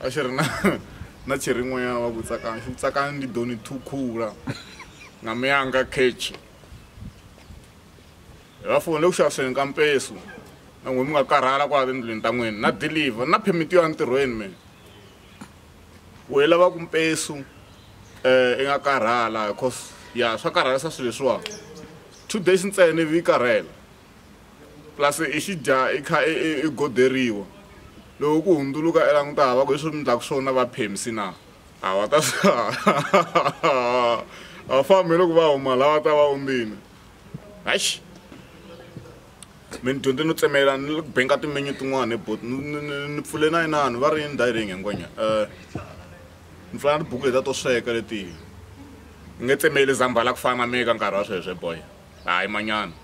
a xi ri na na cheri n'wanyana wa ku tsakani xi ku tsakani ndi doni thukhula na miyanga kechi hi va foni le ku xaviseni ka mpesu na n'we mi nga karhala kwala tindlwini ta n'wini na deliver na phemiti yo ya ntirhweni mina wehe lava ku mpesu um eh, i nga karhala cause ya swa karhalisa swilo leswiwa two days ntsena ivi yi karhela plus i xi dya i kha i i i goderiwa loko ku hundzuluka i languta hava ku hi sweswi mi ndlaku swona va phemsi na a va ta a fambi loko va huma la va ta va ondzile haxi mi ni dyondze no tsemelela ni le ku benka timenyu tin'wana hi bot ni pfule na inani va ri ni diring hinkwanya um ni pfula na tibuku leta to sweka letihi ni nge tsemeli zambhala ku fana na mi eka nkarhi wa sweswe boy hayi manyana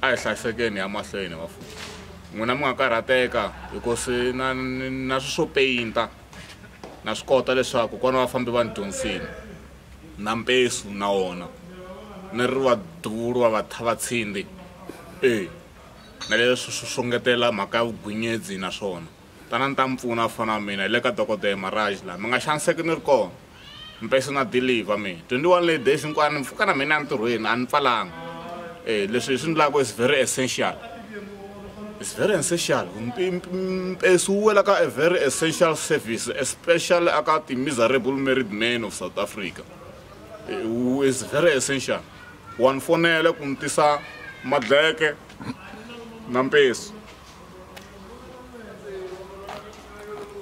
A hi hlayisekeni hi ya mahlweni vafundzi. N'wina mi nga karhateka hikuva na na swilo swo peyinta na swi kota leswaku kona vafambi va ni dyondzisile na mpesu na wona ni ri va duvulu va va thava tshindi e na leswi swo ngetela mhaka ya vugwinyedzi na swona. Tanani ta mi pfuna vafana va mina hi le ka dokodele Maraj laha mi nga xaniseki ni ri kona mpesi na deliver mina 21 lay days hinkwayo ni pfuka na mina entirhweni a ni pfalanga e leswi hi swi ndlaka is very essential is very essential mpesi wu wela ka a very essential service especially aka ti-miserable married man of south africa is very essential wa ni fonela ku ni tisa madleke na mpesu.